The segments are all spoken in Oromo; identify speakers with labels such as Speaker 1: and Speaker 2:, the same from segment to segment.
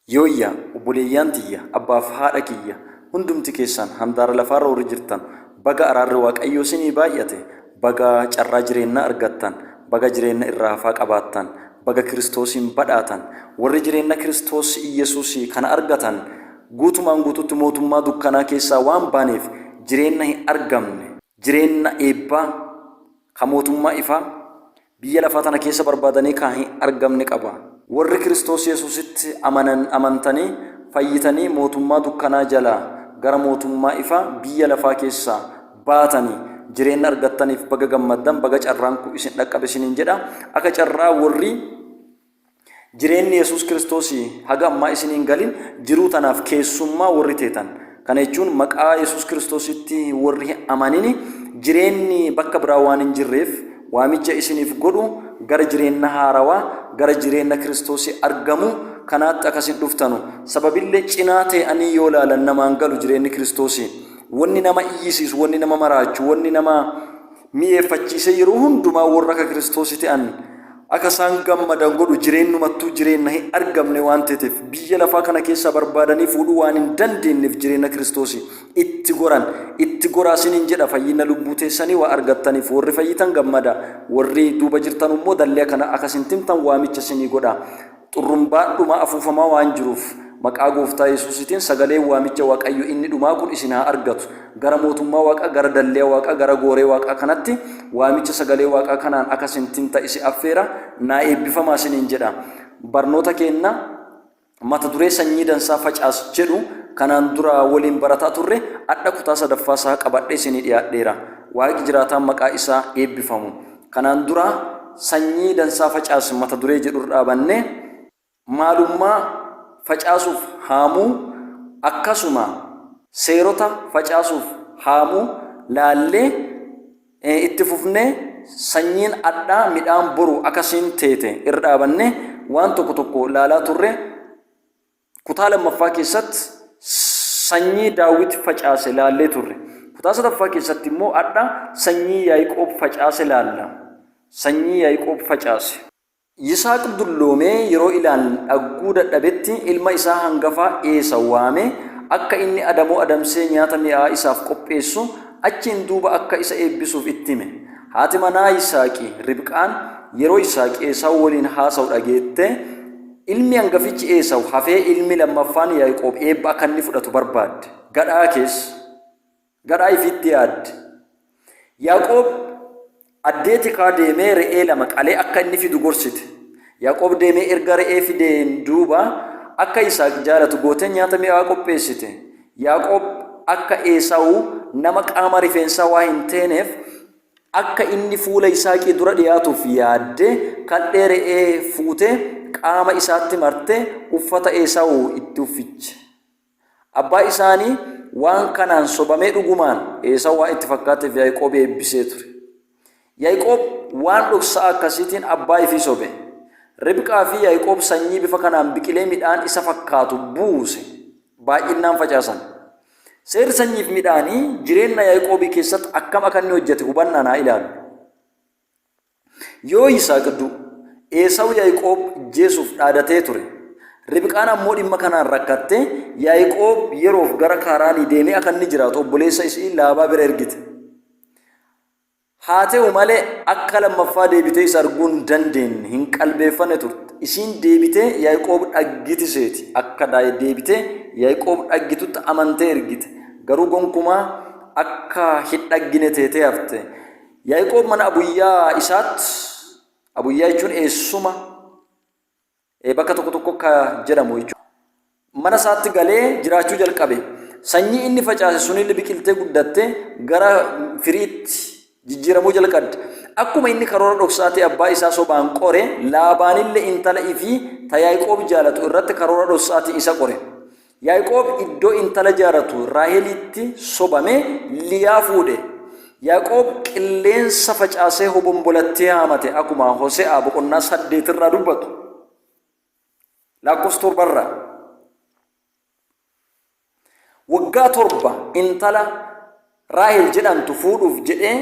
Speaker 1: Yooyyaa obboleeyyaan tiyya abbaaf haadha kiyya hundumti keessaan handaara lafaarra warri jirtan baga araarri waaqayyoo isinii baay'ate baga carraa jireennaa argattan baga jireenna irra hafaa qabaattan baga kiristoosiin badhaatan warri jireenna kiristoos iyyasuusii kana argatan guutumaan guututti mootummaa dukkanaa keessaa waan baaneef jireenna hin argamne jireenna eebbaa ka mootummaa ifaa biyya lafaa tana keessa barbaadanii ka hin argamne qaba. Worri Kiristoos Yesuusitti amanan amantanii fayyitanii mootummaa dukkanaa jalaa gara mootummaa ifaa biyya lafaa keessaa baatanii jireenna argattaniif baga gammaddan baga carraan kun isin dhaqqabe isiniin jedha. Aka carraa worri. Jireenni Yesuus Kiristoos haga ammaa isinii hin galin jiruu tanaaf keessummaa worri teetan, kana jechuun maqaa Yesuus Kiristoositti worri hin amanini jireenni bakka biraa waan hin jirreef waamicha isiniif godhu gara jireenna haarawaa, gara jireenna Kiristoosii argamu kanaatti akka isin dhuftanu. Sababille cinaa tee'anii yoo laalan namaan galu jireenni Kiristoosii. Wonni nama iyyisiisu, wonni nama maraachu, wonni nama. mi'eeffachiisee yeroo hundumaa worra akka Kiristoosii te'an akka isaan gammadan godhu jireennumattuu jireenna hin argamne waan teeteef biyya lafaa kana keessaa barbaadanii fuudhuu waan hin dandeenneef jireenna Kiristoosii itti goran itti goraa siniin jedha fayyinna lubbuu teessanii waa argattaniif worri fayyitan gammada worri duuba jirtanu immoo dalliya kana akka isin timtan waamicha sinii godha Xurrumbaan dhumaa afuufamaa waan jiruuf, maqaa gooftaa yesuusiitiin sagaleen waamicha waqayyo inni dhumaa kun isin haa argatu. Gara mootummaa waaqaa gara dalleya waaqaa gara gooree waaqaa kanatti waamicha sagalee waaqaa kanaan aka sin tinta isi affeera naa eebbifamaa sinin jedha. Barnoota keenna mata duree sanyii dansaa facaas jedhu kanaan dura waliin barataa turre adha kutaa sadaffaa isaa qabadhee isinii dhiyaadheera. Waaqi jiraataan maqaa isaa eebbifamu. Kanaan dura Sanyii dansaa facaasi mata duree jedhurra dhaabannee maalummaa facaasuuf haamuu akkasuma seerota facaasuuf haamuu laallee itti fufnee sanyiin adhaa midhaan boru akasiin teete irra dhaabannee waan tokko tokko laalaa turre Kutaa lammaffaa keessatti sanyii Daawit facaase laallee turre. Kutaa sadaffaa keessatti immoo hadha sanyii Yaa'iqoob facaase laalla. Sanyii Yaa'iqoob facaase. Yisaaq dulloomee yeroo ilaan dhagguu dadhabetti ilma isaa hangafaa Eesaw waamee akka inni adamoo adamsee nyaata mi'aawaa isaaf qopheessu, achiin duuba akka isa eebbisuuf itti hime. Haati manaa Yisaaqii, Ribqaan, yeroo Yisaaq Eesaw waliin haasawu dhageette, Ilmi angafichi Eesawu hafee ilmi lammaffaan Yaaqoob eebba akka inni fudhatu barbaadde. Gadhaa kees. Gadhaa ifiitti yaadde. Yaaqoob addee tikaa deemee re'ee lama qalee akka inni fidu gorsite. Yaaqoob deemee erga re'ee fideen duuba akka Isaaq jaalatu gootee nyaata mi'aa qopheessite. Yaaqoob akka Eesawu nama qaama rifeensaa waa hin teeneef Akka inni fuula Yisaaqii dura dhi'aatuuf yaaddee, kadhee re'ee fuutee qaama isaatti martee uffata Eesaawu itti uffiche. Abbaa isaanii waan kanaan sobamee dhugumaan Eesaawu waan itti fakkaateef Yaa'iqoobi eebbisee ture. Yaa'iqoob waan dhoksa'aa akkasiitiin abbaa ifii sobe. Ribqaa fi Yaa'iqoob sanyii bifa kanaan biqilee midhaan isa fakkaatu buuse baay'innaan facaasan. Seerri sanyiif midhaanii jireenna Yaiqoobii keessatti akkam aka inni hojjate hubannaan haa ilaallu. Yoo Yisaaq du, Eesawu Yaiqoob ijjeesuuf dhaadatee ture. Ribqaan ammoo dhimma kanaan rakkatte Yaiqoob yeroof gara Kaaraanii deemee aka inni jiraatu obboleessa isi'ii Laabaa bira ergite. Haa ta'u malee, akka lammaffaa deebitee isa arguu hin dandeenne, hin qalbeeffanne turte. Isiin deebitee Yaiqoob dhaggiti seeti. Akka deebitee Yaiqoob dhaggitutti amantee ergite, garuu gonkumaa akka hin dhaggine teetee hafte. Yaiqoob mana abuyyaa isaatti, abuyyaa jechuun eessuma, Eh, bakka tokko tokko akka jedhamu jechuudha. Mana isaatti galee jiraachuu jalqabe. Sanyii inni facaase sunillee biqiltee guddatte gara firiitti jijjiiramuu jalqabde. Akkuma inni karoora dhoksaa ta'e abbaa isaa sobaan qore, Laabaanillee intala ifii ta Yaaqoob jaalatu irratti karoora dhoksaa ta'e isa qore. Yaaqoob iddoo intala jaaratu Raaheliitti sobamee Liyaa fuudhe. Yaaqoob qilleensa facaasee hobombolattii haamate akuma Hose'aa boqonnaa saddeet irraa dubbatu. Laakkoofsa torba irraa. Waggaa torba intala Raahel jedhamtu fuudhuuf jedhee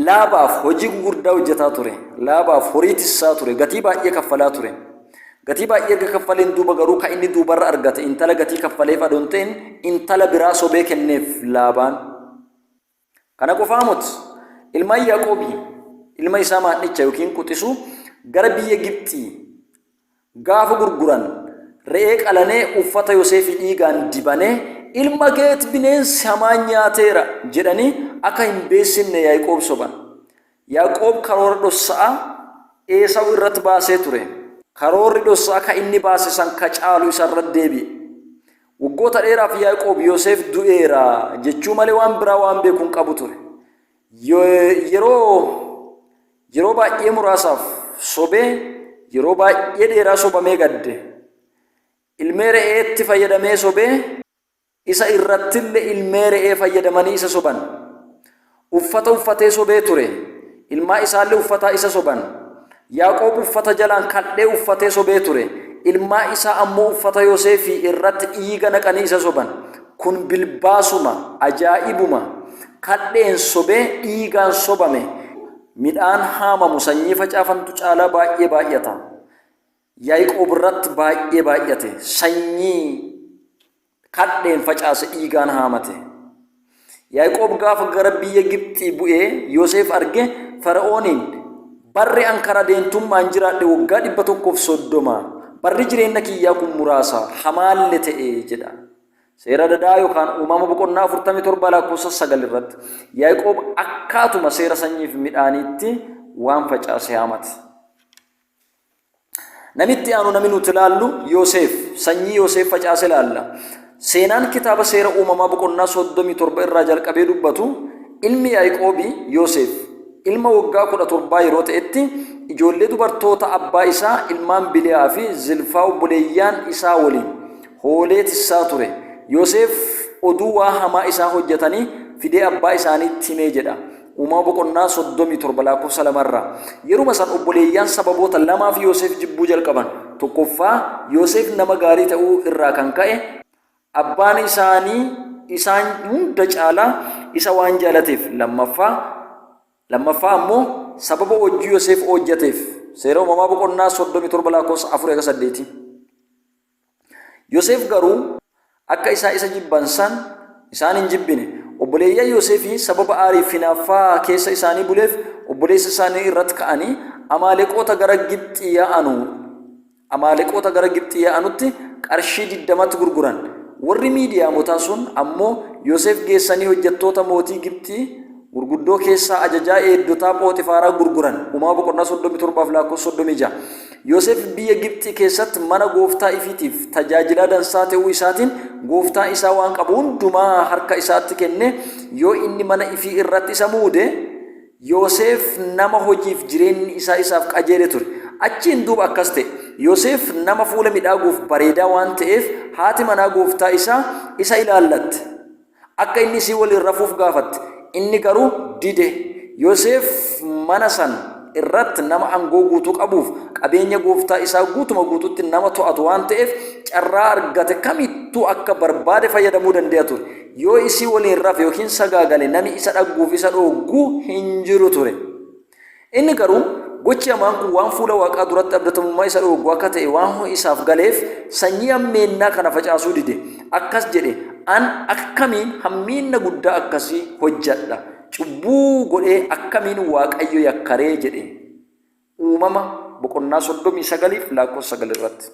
Speaker 1: Laabaaf hojii gugurdaa hojjataa ture. Laabaaf horii tissaa ture. Gatii baay'ee kaffalaa ture. Gatii baay'ee erga kaffaleen duuba garuu kan inni duubarra argate intala gatii kaffaleef adoon ta'in intala biraa sobee kenneef Laabaan. Kana qofaa mut ilmaan Yaaqoobii ilma isaa maadhicha yookiin quxisuu gara biyya Gibxii Gaafa gurguran re'ee qalanee uffata Yoseefii dhiigaan dibanee ilma keet bineensi hamaan nyaateera jedhanii akka hin beessinne Yaa'iqoob soban. Yaaqoob karoora dhossa'aa Eesaw irratti baasee ture. Karoorri dhossa'aa ka inni baase san ka caalu isa irratti deebi'e. Waggoota dheeraaf Yaa'iqoob Yoseef du'eera jechuu malee waan biraa waan beeku hin qabu ture. Yeroo Yeroo baay'ee muraasaaf sobee yeroo baay'ee dheeraa sobamee gadde. Ilmee re'eetti fayyadamee sobee isa irrattille ilmee re'ee fayyadamanii isa soban. Uffata uffatee sobee ture, ilmaa isaalle uffataa isa soban. Yaaqoob uffata jalaan kaldhee uffatee sobee ture, ilmaa isaa ammoo uffata Yoseefii irratti dhiiga naqanii isa soban. Kun bilbaasuma, ajaa'ibuma, kadheen sobee dhiigaan sobame, midhaan haamamu sanyii facaafantu caalaa baay'ee baay'ata. Yaiqoob irratti baay'ee baay'ate, sanyii kadheen facaase dhiigaan haamate. Yaiqoob gaafa gara biyya Gibxii bu'ee Yoseef arge Fara'ooniin barri an karaa deentummaan jiraadhe waggaa dhibba tokkoof soddoma, barri jireenya kiyyaa kun muraasa, hamaalle ta'e jedha. Seera dadaa yookaan uumama boqonnaa 47 lakkoofsa 9 irratti Yaaqoob akkaatuma seera sanyiif midhaaniitti waan facaase haamate. Namitti aanu namni nuti ilaallu Yooseef sanyii Yooseef facaase ilaalla. Seenaan kitaaba seera uumamaa boqonnaa 37 irraa jalqabee dubbatu ilmi Yaaqoobii Yooseef ilma waggaa 17 yeroo ta'etti ijoollee dubartoota abbaa isaa ilmaan Biliyaa fi Zilfaa obboleeyyaan isaa waliin hoolee tissaa ture. Yoseef oduu waa hamaa isaa hojjatanii fidee abbaa isaaniitti himee jedha. Uumama boqonnaa 37 lakkoofsa 2 irraa. Yeruma san obboleeyyaan sababoota lamaaf Yoseef jibbuu jalqaban. Tokkoffaa Yoseef nama gaarii ta'uu irraa kan ka'e abbaan isaanii isaan hunda caalaa isa waan jaalateef lammaffaa lammaffaa ammoo sababa hojjii Yoseef hojjateef seera uumamaa boqonnaa 37 lakkoofsa 4 hanga 8. Yoseef garuu akka isaa isa jibban san isaan hin jibbine. Obboleeyyan Yoseefii sababa aarii fi hinaaffaa keessa isaanii buleef obboleessa isaanii irratti ka'anii Amaaleqoota gara Gibxii yaa'anu Amaaleqoota gara Gibxii yaa'anutti qarshii digdamatti gurguran. Warri Miidiyaamotaa sun ammoo Yoseef geessanii hojjattoota mootii Gibxii Gurguddoo keessaa ajajaa eegdotaa Phooxifaaraa gurguran. Umaa boqonnaa 37 fi lakkoofsa 36. Yoseef biyya Gibxii keessatti mana gooftaa ifiitiif tajaajilaa dansaa ta'uu isaatiin gooftaa isaa waan qabu hundumaa harka isaatti kennee yoo inni mana ifii irratti isa muude Yoseef nama hojiif jireenyi isaa isaaf qajeele ture. Achiin duuba akkas ta'e. Yoseef nama fuula midhaaguuf bareedaa waan ta'eef haati manaa gooftaa isaa isa ilaallatte. Akka inni isii waliin rafuuf gaafatte, inni garuu dide. Yoseef mana san irratti nama angoo guutuu qabuuf qabeenya gooftaa isaa guutuma guututti nama to'atu waan ta'eef carraa argate kamittuu akka barbaade fayyadamuu dande'a ture. Yoo isii waliin rafe ykn sagaagale nami isa dhagguuf isa dhooggu hin jiru ture. Inni garuu, gochi hamaan kun waan fuula Waaqaa duratti abdatamummaa isa dhooggu akka ta'e waan isaaf galeef, sanyii hammeennaa kana facaasuu dide. Akkas jedhe, An akkamiin hammeenna guddaa akkasii hojjadha? Cubbuu godhee akkamiin Waaqayyo yakka ree? jedhe. Uumama boqonnaa 39 fi lakkoofsa 9 irratti.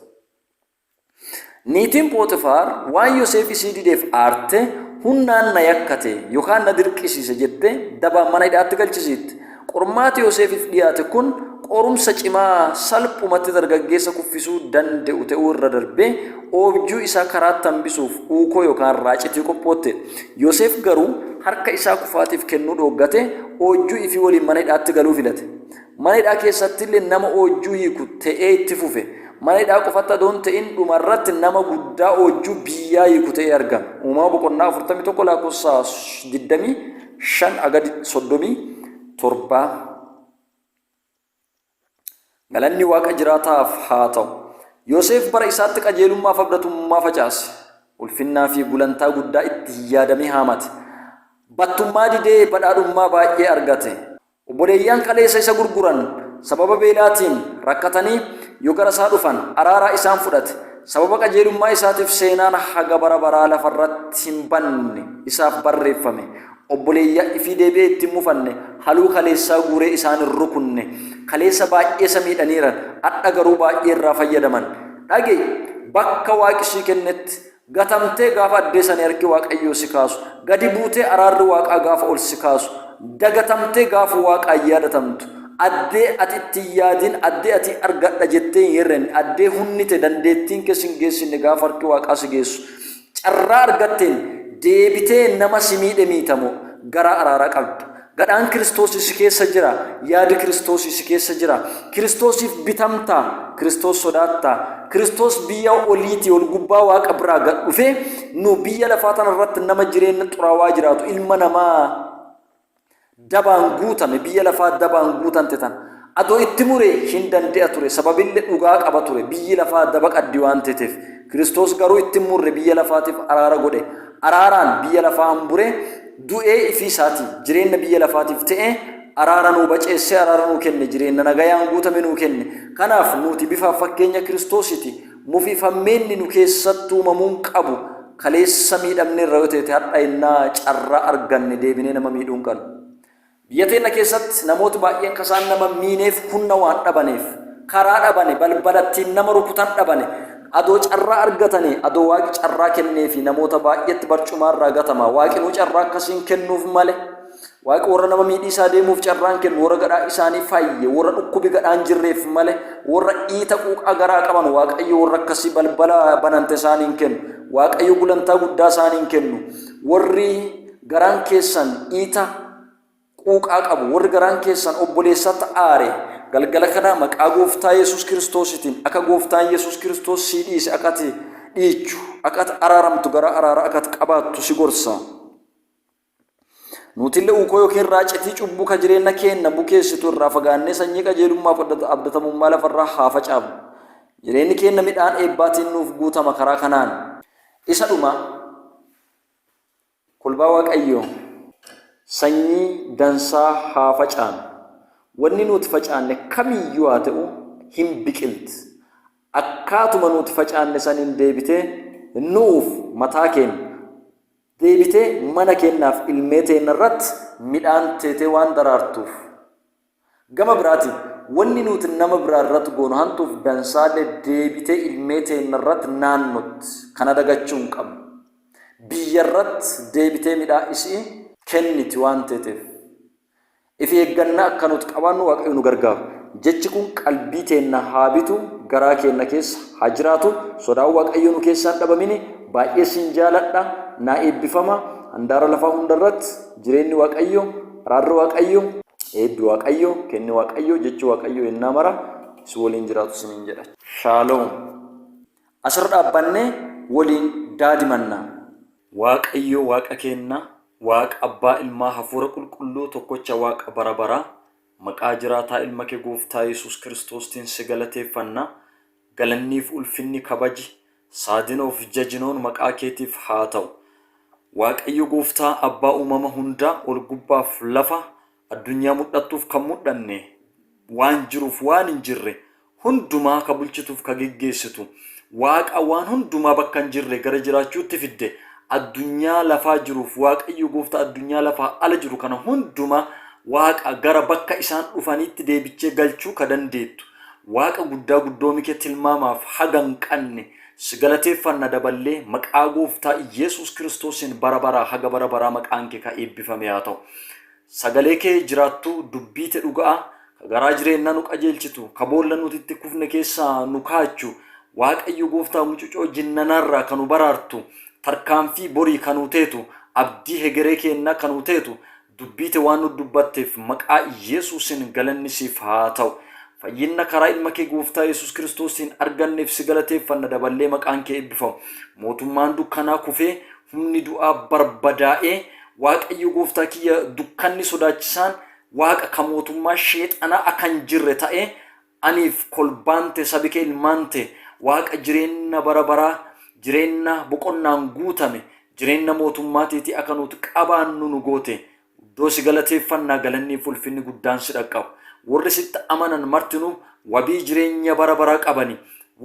Speaker 1: Niitiin Phoxifaar waan Yoseef isii dideef aarte, hunnaan na yakkate yokaan na dirqisiise jettee dabaan mana hidha'atti galchisiitte. Qormaati Yoseefiif dhiyaate kun qorumsa cimaa salphumatti dargaggeessa kuffisuu dande'u te'uu irra darbee oobjuu isaa karaatti hambisuuf uukoo yokaan raacitii qophootteedha. Yoseef garuu harka isaa kufaatiif kennuu dhooggate oojjuu ifii woliin mana hidha'atti galuu filate. Mana hidhaa keessattillee nama oojjuu hiiku ta'ee itti fufe. Mana hidhaa qofatti adoo hin ta'in dhumarratti nama guddaa oojjuu biyyaa hiiku ta'ee argame. Uumama boqonnaa 41 lakkoofsa 25 haga 37. Galanni Waaqa jiraataaf haa ta'u. Yoseef bara isaatti qajeelummaa fi abdatummaa facaase. Ulfinnaa fi gulantaa guddaa itti yaadamee haamate. Battummaa didee badhaadhummaa baay'ee argate. Obboleeyyan kaleessa isa gurguran sababa beelaatiin rakkatanii yoo gara isaa dhufan araaraa isaan fudhate, sababa qajeelummaa isaatiif seenaan haga bara baraa lafa irratti hin banne isaaf barreeffame, obboleeyya ifii deebi'ee itti hin mufanne, haluu kaleessaa guuree isaan hin rukunne, kaleessa baay'ee isa miidhaniiran, adha garuu baay'ee irraa fayyadaman. Dhage! Bakka Waaqi sii kennetti gatamtee gaafa addeessa ni harki waaqayyoo si kaasu gadi buutee araarri waaqaa gaafa ol si kaasu dagatamtee gaafa waaqaa yaadatamtu addee ati itti yaadin addee ati argadha jettee hin herrenne addee hunnite dandeettiin keessa hin geessinne gaafa harki waaqaa si geessu carraa argatteen deebitee nama si miidhe miitamoo garaa araaraa qabda Gadhaan Kiristoosi si keessa jira, yaadi Kiristoosi si keessa jira. Kiristoosiif bitamta, Kiristoos sodaatta. Kiristoos biyya oliitii ol gubbaa Waaqa biraa gad dhufee nu biyya lafaa tana irratti nama jireenya xuraawaa jiraatu ilma namaa dabaan guutame biyya lafaa dabaan guutante tana Ado itti mure hin dande'a ture, sababille dhugaa qaba ture, biyyi lafaa daba qaddi waan teeteef. Kiristoos garuu itti hin murre, biyya lafaatiif araara godhe. Araaraan biyya lafaa hambure, du'ee ifii isaatii jireenna biyya lafaatiif te'e, araara nuu baceessee araara nuu kenne, jireenna nagayaan guutame nuu kenne. Kanaaf nuuti bifaaf fakkeenya Kiristoosiiti, mufii fammeenni nu keessatti uumamuu hin qabu, kaleessa miidhamneerra yoo teete hadha yennaa carraa arganne deebinee nama miidhuu hin qannu. Biyya teenna keessatti namooti baay'een ka isaan nama miineef hunna waan dhabaneef, karaa dhabane, balbala ittiin nama rukutan dhabane, adoo carraa argatanee, adoo Waaqi carraa kenneefii namoota baay'eetti barcumaa irraa gatama. Waaqinuu carraa akkasii hin kennuuf male. Waaqi worra nama miidhiisaa deemuuf carraa hin kennu, worra gadhaa isaanii fayye, worra dhukkubi gadhaa hin jirreef male, worra iita quuqaa garaa qaban Waaqayyo worra akkasii balbala banante isaanii hin kennu. Waaqayyo gulantaa guddaa isaanii hin kennu. Worri garaan keessan iita quuqaa qabu, worri garaan keessan obboleessatti aare, galgala kana maqaa Gooftaa Yesuus Kiristoositiin akka Gooftaan Yesuus Kiristoos sii dhiise akka ati dhiichu, akka ati araaramtu, gara araaraa akka ati qabaattu si gorsa. Nuutille uukoo yookiin raacitii cubbuu ka jireenna keenna bukeessitu irraa fagaannee sanyii qajeelummaaf abdatamummaa lafarraa haa facaafnu. Jireenni keenna midhaan eebbaatiin nuuf guutama karaa kanaan. Isa dhumaa. Kolbaa waaqayyoo sanyii dansaa haa facaanu wanni nuut facaanne kamiiyyuu haa ta'u hin biqilt akkaatuma nuut facaanne saniin deebitee nu'uuf mataa keenna deebitee mana keennaaf ilmee teenna irratt midhaan teetee waan daraartuuf Gama biraatiin, wanni nuuti nama biraa irratti goonu hantuuf dansaalle deebitee ilmee teenna irratti naannotti. Kana dagachuu hin qabnu. Biyya irratti deebitee midhaa isi'ii kenniti waan teeteef. Ifi eegganna akka nuuti qabaannu Waaqayyo nu gargaaru. Jechi kun qalbii teenna haa bitu, garaa keenna keessa haa jiraatu. Sodaan Waaqayyoo nu keessaa hin dhabamini. Baay'ee sin jaaladha. Naa eebbifama. Handaara lafaa hunda irratti. Jireenni Waaqayyoo, araarri Waaqayyoo, eebbi Waaqayyoo, kenni Waaqayyoo, jechi Waaqayyoo yennaa mara si woliin jiraatu isiniin jedha. Shaaloom. As irra dhaabbannee woliin daadimanna. Waaqayyo Waaqa keenna, Waaqa Abbaa, Ilmaa, Hafuura Qulqulluu, tokkocha Waaqa bara baraa, maqaa jiraataa Ilma kee Gooftaa Yesuus Kiristoostiin si galateeffanna. Galanniif ulfinni kabaji saadinoof jajinoon maqaa keetiif haa ta'u waaqayyo gooftaa abbaa uumama hundaa ol gubbaaf lafa addunyaa mudhattuuf kan mudhanne waan jiruuf waan hin jirre hundumaa ka bulchituuf ka geggeessitu waaqa waan hundumaa bakka hin jirre gara jiraachuutti fidde addunyaa lafaa jiruuf waaqayyo gooftaa addunyaa lafaa ala jiru kana hundumaa waaqa gara bakka isaan dhufaniitti deebichee galchuu ka dandeettu Waaqa guddaa guddoomi kee tilmaamaaf haga hin qanne si galateeffanna daballee maqaa gooftaa Iyyeesuus kiristoosiin bara baraa haga bara baraa maqaan kee ka eebbifamee haa ta'u. Sagalee kee jiraattuu dubbii te dhuga'aa ka garaa jireennaa nu qajeelchitu ka boolla nuti itti kufne keessaa nu kaachu Waaqayyo gooftaa mucucoo jinnanaarraa ka nu baraartu tarkaanfii borii ka nuu teetu abdii hegeree keennaa ka nuu teetu Dubbiite waan nu dubbatteef maqaa Yesuusiin galanni siif haa ta'u. Fayyinna karaa ilma kee gooftaa Yesuus Kiristoosiin arganneef si galateeffanna daballee maqaan kee eebbifamu. Mootummaan dukkanaa kufee humni du'aa barbadaa'ee Waaqayyo gooftaa kiyya dukkanni sodaachisaan waaqa ka mootummaa sheexanaa akka hin jirre ta'ee Aniif kolbaan te sabi ke ilmaan te Waaqa jireenna bara baraa jireenna boqonnaan guutame jireenna mootummaa teetii aka nuut qabaannu nu goote guddoo si galateeffanna galanniif ulfinni guddaan si dhaqqabu worri sitti amanan martinuu wabii jireenya bara baraa qabani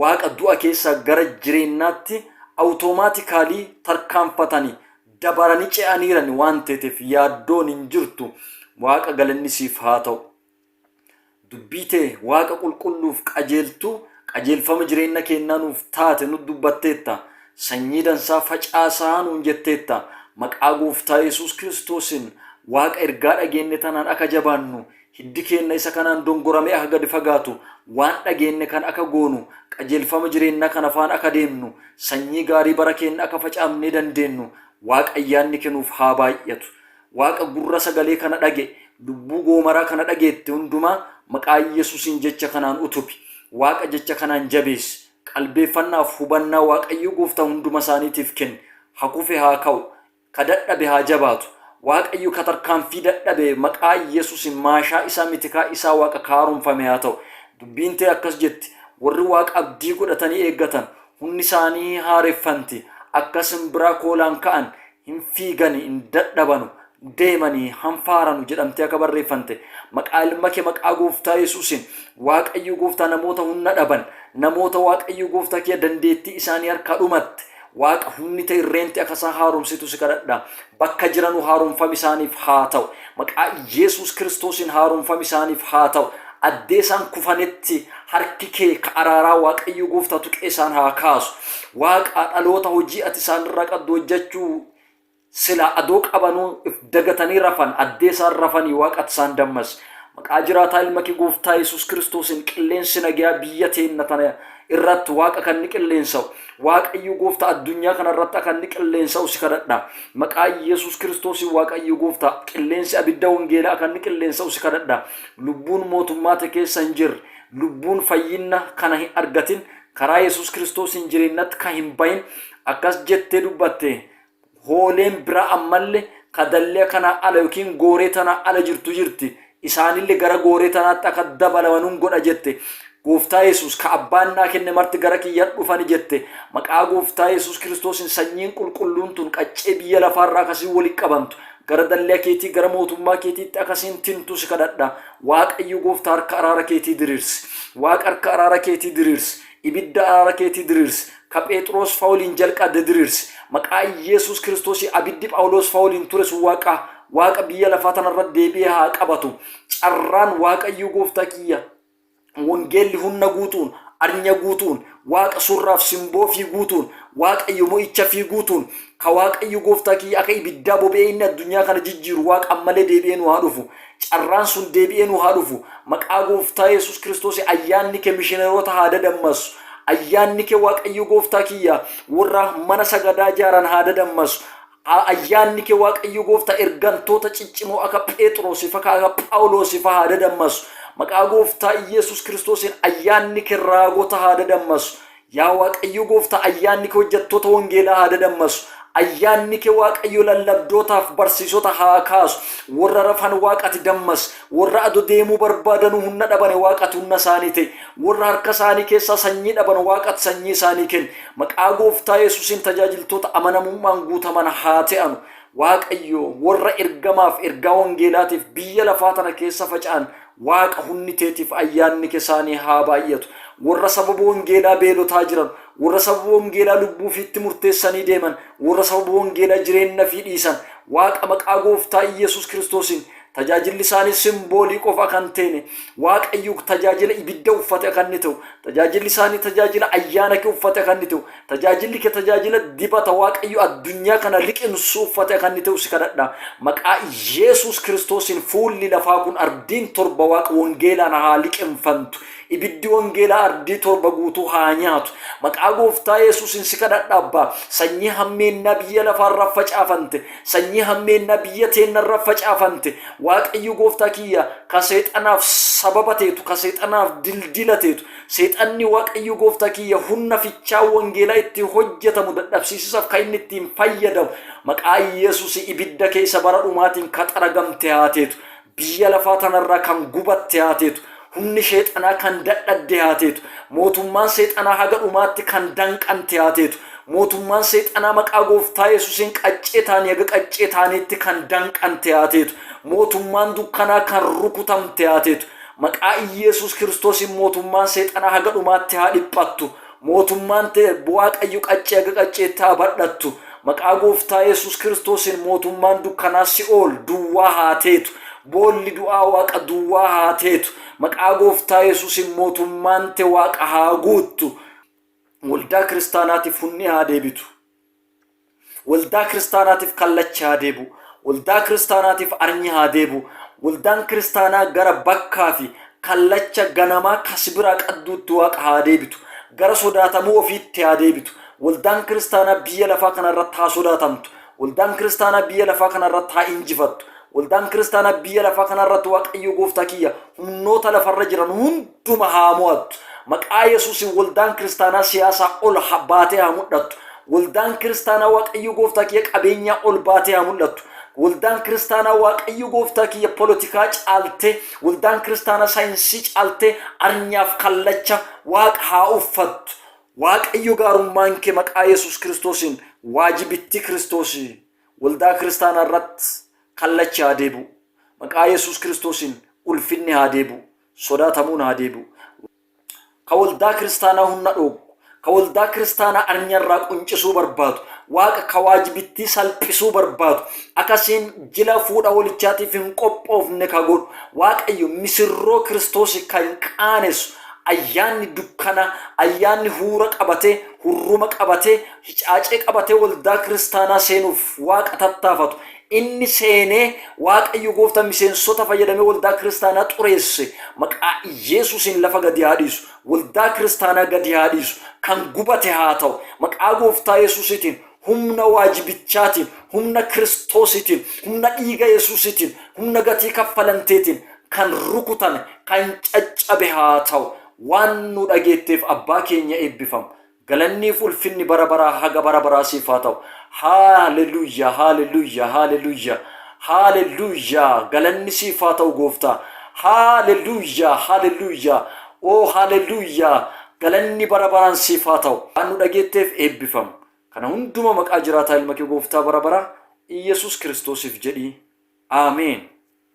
Speaker 1: Waaqa du'a keessaa gara jireennaatti automatically tarkaanfatani dabarani ce'aniirani waan teetef yaaddoon hin jirtu Waaqa galanni siif haa ta'u. Dubbii tee Waaqa qulqulluuf qajeeltuu qajeelfama jireenna keennaa nuuf taate nut dubbatteetta. Sanyii dansaa facaasa'a nuun jetteetta. Maqaa Gooftaa Yesuus Kiristoosiin Waaqa ergaa dhageenne tanaan aka jabaannu, hiddi keenna isa kanaan dongorame'e aka gad fagaatu, waan dhageenne kana aka goonu, qajeelfama jireennaa kana faana aka deemnu, sanyii gaarii bara keenna aka facaamnee dandeennu Waaqa ayyaanni kenuuf haa baay'atu. Waaqa gurra sagalee kana dhaga'e, lubbuu goomaraa kana dhageette hundumaa maqaa Yesuusiin jecha kanaan utubi. Waaqa jecha kanaan jabeessi. Qalbeeffannaaf hubannaa Waaqayyo gooftaa hunduma isaaniitiif kenni. Ha kufe haa ka'u. Ka dadhabe haa jabaatu. Waaqayyo ka tarkaanfii dadhabe maqaa Yesuusiin maashaa isaa mitikaa isaa Waaqa ka haaromfame haa ta'u. Dubbiin tee akkas jetti, Warri Waaqa abdii godhatanii eeggatan hunni isaanii haareffanti, akka simbiraa koolaan ka'an, hin fiigani, hin dadhabanu, deemani, hanfaaranu jedhamtee akka barreeffante, maqaa ilma kee maqaa gooftaa Yesuusin, Waaqayyo gooftaa namoota hunna dhaban, namoota Waaqayyo gooftaa kiyya dandeettii isaanii harkaa dhumatte, Waaqa hunni ta'e irreenti akka isaan haaromsitu si kadhadha. Bakka jiranu haaromfami isaaniif haa ta'u. Maqaa Iyeesuus Kiristoosiin haaromfami isaaniif haa ta'u. Addee isaan kufanetti harki kee ka araaraa Waaqayyo Gooftaa tuqee isaan haa kaasu. Waaqaa dhaloota hojii ati isaan irraa qabdu hojjachuu silaa adoo qabanuu if dagatanii rafan addee isaan rafanii Waaqa ati isaan dammasi. Maqaa jiraataa Ilma kee Gooftaa Iyeesuus Kiristoosiin qilleensi nagayaa biyya teenna tana irratti waaqa kan ni qilleensa'u waaqayyo gooftaa addunyaa kana irratti akka inni qilleensa'u si kadhadha maqaa yesus kiristoosiin waaqayyo gooftaa qilleensi abidda wangeelaa akka inni qilleensa'u si kadhadha lubbuun mootummaa te keessa hin jirre lubbuun fayyinna kana hin argatin karaa yesus kiristoosiin jireennatti kan hin bahin akkas jettee dubbatte hooleen biraa ammalle ka dallee kanaa ala yookiin gooree tanaa ala jirtu jirti isaanille gara gooree tanaatti akka dabalamanun godha jette gooftaa yesus ka abbaan naa kenne marti gara kiyya dhufani jette maqaa gooftaa yesus kiristoosin sanyiin qulqulluun tun qaccee biyya lafaarraa akkasiin wali qabantu gara dallee keetii gara mootummaa keetiitti akkasiin tintu si kadhadha waaqayyo gooftaa harka araara keetii diriirsi waaqa harka araara keetii diriirsi Ibidda araara keetii diriirsi. Ka Pheexroos fa woliin jalqaadde diriirsi. Maqaa Iyeesuus Kiristoosii abiddi Phawuloos fa woliin ture sun Waaqa, Waaqa biyya lafaa tana irra deebi'ee haa qabatu. Carraan Waaqayyoo Gooftaa kiyya, Wongeelli hunna guutu'uun, arnya guutu'uun, Waaqa surraa fi simboo ifii guutu'uun, Waaqayyo mo'icha ifii guutu'uun, Ka Waaqayyo gooftaa kiyya aka ibiddaa bobe'ee inni addunyaa kana jijjiiru Waaqa ammalee deebi'ee nu haa dhufu. Carraan sun deebi'ee nu haa dhufu. Maqaa gooftaa Yesuus Kiristoosiin ayyaanni ke mishineroota haa dadammassu. Ayyaanni ke Waaqayyo gooftaa kiyya worra mana sagadaa jaaran haa dadammassu. A Ayyaanni ke Waaqayyo gooftaa ergantoota ciccimoo aka Pheexroosii fa ka aka Phaawuloosii fa haa dadammassu. Maqaa gooftaa Iyeesuus Kiristoosiin ayyaanni ke raagota haa dadammassu. Yaa Waaqayyo Gooftaa ayyaanni kee hojjettoota wangeelaa haa dadammasu. Ayyaanni kee Waaqayyo lallabdootaaf barsiisota haa kaasu. Warra rafan Waaqa ati dammas. Warra ado deemuu barbaadanuu hunna dhabane Waaqa ati hunna isaanii ta'i. Warra harka isaanii keessaa sanyii dhaban Waaqa ati sanyii isaanii kenni. Maqaa Gooftaa Yesuusiin tajaajiltoota amanamummaan guutaman haa ta'anu. Waaqayyo warra ergamaaf ergaa wangeelaatiif biyya lafaa tana keessa faca'an Waaqa hunni teetiif ayyaanni kesaanii haa baay'atu. Worra sababa wongeelaa beelotaa jiran, worra sababa wongeelaa lubbuu ufiitti murteessanii deeman, worra sababa wongeelaa jireenna ifii dhiisan, Waaqa maqaa Gooftaa Iyyesuus Kiristoosiin, tajaajilli isaanii simboolii qofa akka hin teene, Waaqayyuk tajaajila ibidda uffate akka inni te'u, tajaajilli isaanii tajaajila ayyaana ke uffate akka inni te'u, Tajaajilli kee tajaajila dibata Waaqayyo addunyaa kana liqimsu uffate akka inni ta'u si kadhadha. Maqaa Yesuus Kiristoosiin fuulli lafaa kun ardiin torba waaqa wangeelaan haa liqimfantu. Ibiddi wangeelaa ardii torba guutuu haa nyaatu. Maqaa gooftaa Yesuusiin si kadhadha abbaa. Sanyii hammeennaa biyya lafaarra facaafante. Sanyii hammeennaa biyya teennarra facaafante. Waaqayyo gooftaa kiyya ka seexanaaf sababa teetu, ka seexanaaf dildila teetu, Seexanni Waaqayyo gooftaa kiyya hunna fichaa wangeelaa itti hojjetamu dadhabsiisisaf ka inni ittiin fayyadamu maqaa Yesusi ibidda keessa bara dhumaatiin ka xaragamte haa teetu. Biyya lafaa tanarraa kan gubatte haa teetu. Humni sheexanaa kan dadhadde haa teetu. Mootummaan seexanaa haga dhumaatti kan danqante haa teetu. Mootummaan seexanaa maqaa gooftaa Yesusiin qaccee taanii haga qaccee taaniitti kan danqante haa teetu. Mootummaan dukkanaa kan rukutamte haa teetu. Maqaa Iyyeesuus Kiristoosiin mootummaan seexanaa haga dhumaatti haa dhiphattu. Mootummaan te Waaqayyo qaccee haga qacceetti haa badhattu. Maqaa Gooftaa Yesuus Kiristoosiin mootummaan dukkanaa si'ool duwwaa haa teetu. Boolli du'aa Waaqa duwwaa haa teetu. Maqaa Gooftaa Yesuusiin mootummaan te Waaqa haa guuttu. Waldaa kiristaanaatiif hunni haa deebitu. Waldaa kiristaanaatiif kallachi haa deebi'u. Waldaa kiristaanaatiif arnyi haa deebi'u. Waldaan kiristaanaa gara bakkaa fi kallacha ganamaa kasbiraa qadduutti waaqa haa deebitu. Gara sodaatamuu ofiitti haa deebitu. Waldaan kiristaanaa biyya lafaa kana irratti haa sodaatamtu. Waldaan kiristaanaa biyya lafaa kana irratti haa injifattu. Waldaan kiristaanaa biyya lafaa kana irratti Waaqayyo gooftaa kiyya humnoota lafarra jiran hunda hunduma haa mo'attu. Maqaa Yesuusin waldaan kiristaanaa siyaasaa ol ha- baatee haa mul'attu. Waldaan kiristaanaa Waaqayyo gooftaa kiyya qabeenyaa ol baatee haa mul'attu. Waldaan kiristaanaa Waaqayyo gooftaa kiyya polotikaa caaltee, waldaan kiristaanaa saayinsii caaltee arnyaaf kallacha waaqa haa uffattu. Waaqayyo gaarummaan kee maqaa Yesuus Kiristoosiin waajibittii Kiristoosii waldaa kiristaanaa irratti kallachi haa deebi'u. Maqaa Yesuus Kiristoosiin ulfinni haa deebi'u. sodaatamuun haa deebi'u. Ka waldaa kiristaanaa hunna dhooggu, ka waldaa kiristaanaa arnya irraa quncisuu barbaadu, Waaqa ka waajibittii salphisuu barbaadu, akka isiin jila fuudha wolichaatiif hin qophoofne ka godhu, Waaqayyo misirroo Kiristoosii ka hin qaanessu, ayyaanni dukkanaa, ayyaanni huura qabatee, hurruma qabatee, hicaacee qabatee waldaa kiristaanaa seenuuf Waaqa tattaafatu, Inni seenee Waaqayyo gooftaan miseensota fayyadamee waldaa kiristaanaa xureesse maqaa Iyeesuusiin lafa gadi haa dhiisu waldaa kiristaanaa gadi haa dhiisu kan gubate haa ta'u maqaa gooftaa Yesuusiitiin humna waajibichaatiin humna kiristoosiitiin humna dhiiga Yesuusiitiin humna gatii kaffalanteetiin kan rukutame kan caccabe haa ta'u waan nu dhageetteef abbaa keenya eebbifam Galanniif ulfinni bara baraa haga bara baraa siif haa ta'u. Haaleluyyaa haaleluyyaa haaleluyyaa haaleluyyaa galanni siif haa ta'u gooftaa. Haaleluyyaa haaleluyyaa oo haaleluyyaa galanni bara baraan siif haa ta'u. Waan nu dhageetteef eebbifam. Kana hunduma maqaa jiraataa ilma kee gooftaa bara baraa Iyyasuus Kiristoosiif jedhii. Ameen.